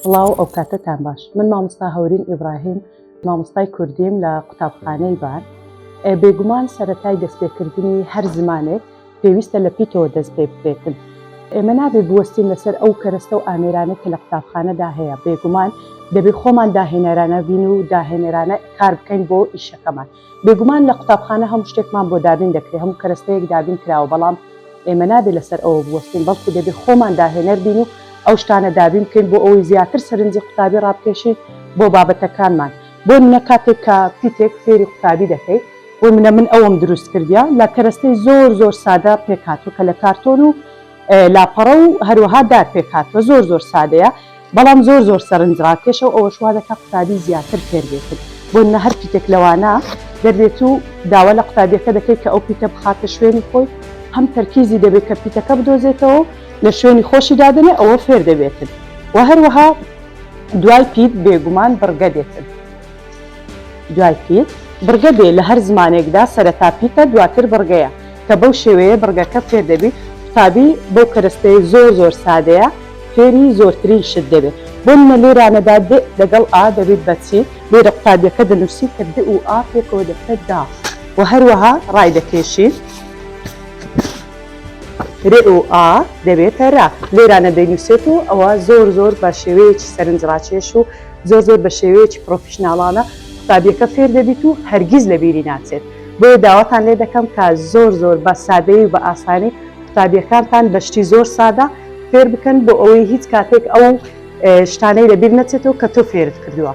سڵاو ئەو کاتەتان باش من مامۆستا هەورین ئیبراهیم مامۆستای کوردیم لە قوتابخانەی بار بێگومان سەتای دەستپێکردنی هەر زمانێک پێویستە لە پیتەوە دەست پێ بکرێتن ئێمە نابێ بوەستین لەسەر ئەو کەرەستە و ئامێرانە کە لە قوتابخانەدا هەیە بێگومان دەبێ خۆمان داهێنەرانە بین و داهێنەرانە کار بکەین بۆ ئیشەکەمان بێگومان لە قوتابخانە هەموو شتێکمان بۆ دابین دەکرێت، هەموو کەرەستەیەک دابین کراوە، بەڵام ئێمە نابێت لەسەر ئەوە بوەستین، بەڵکو دەبێت خۆمان داهێنەر بین و ئەو شتانە دابین بکەین بۆ ئەوەی زیاتر سەرنجی قوتابی ڕابکێشین بۆ بابەتەکانمان، بۆ منە کاتێک کە پیتێک فێری قوتابی دەکەیت، بۆ منە من ئەوەم دروست کردیە لە کەرەستەی زۆر زۆر سادە پێکهاتوە کە لە کارتۆن و لاپەڕە و هەروەها دار پێکهاتوە زۆر زۆر سادەیە، بەڵام زۆر زۆر سەرنج ڕاکێشە و ئەوەش وا دەکات قوتابی زیاتر فێر بێتت، بۆ نمونە هەر پیتێک لەوانە دەردێت و داوا لە قوتابیەکە دەکەیت کە ئەو پیتە بخاتە شوێنی خۆی، هەم تەرکیزی دەبێت کە پیتەکە بدۆزێتەوە و لە شوێنی خۆشی دادەنێت، ئەوە فێر دەبێتت و هەروەها دوای پیت بێگومان بڕگە دێتت. دوای پیت، بڕگە دێ، لە هەر زمانێکدا سەرەتا پیتە دواتر بڕگەیە، کە بەو شێوەیە بڕگەکە فێر دەبیت، قوتابی بەو کەرەستەی زۆر زۆر سادەیە فێری زۆرترین شت دەبێت، بۆ نمونە لێرانەدا دئ لەگەڵ ئا دەبیت بە چی؟ لێرە قوتابیەکە دەنوسی کە دئ و ئا پێکەوە دەبتە دا و هەروەها ڕایدەکێشین رئ و ئا دەبێتە رە، لێرانە دەینوسێت و ئەوە زۆر زۆر بە شێوەیەکی سەرنجڕاکێش و زۆر زۆر بە شێوەیەکی پڕۆفیشناڵانە قوتابیەکە فێر دەبیت و هەرگیز لە بیری ناچێت بۆیە داواتان لێ دەکەم کە زۆر زۆر بە سادەیی و بە ئاسانی قوتابیەکانتان بە شتی زۆر سادە فێر بکەن بۆ ئەوەی هیچ کاتێک ئەو شتانەی لە بیر نەچێتەوە کە تۆ فێرت کردووە.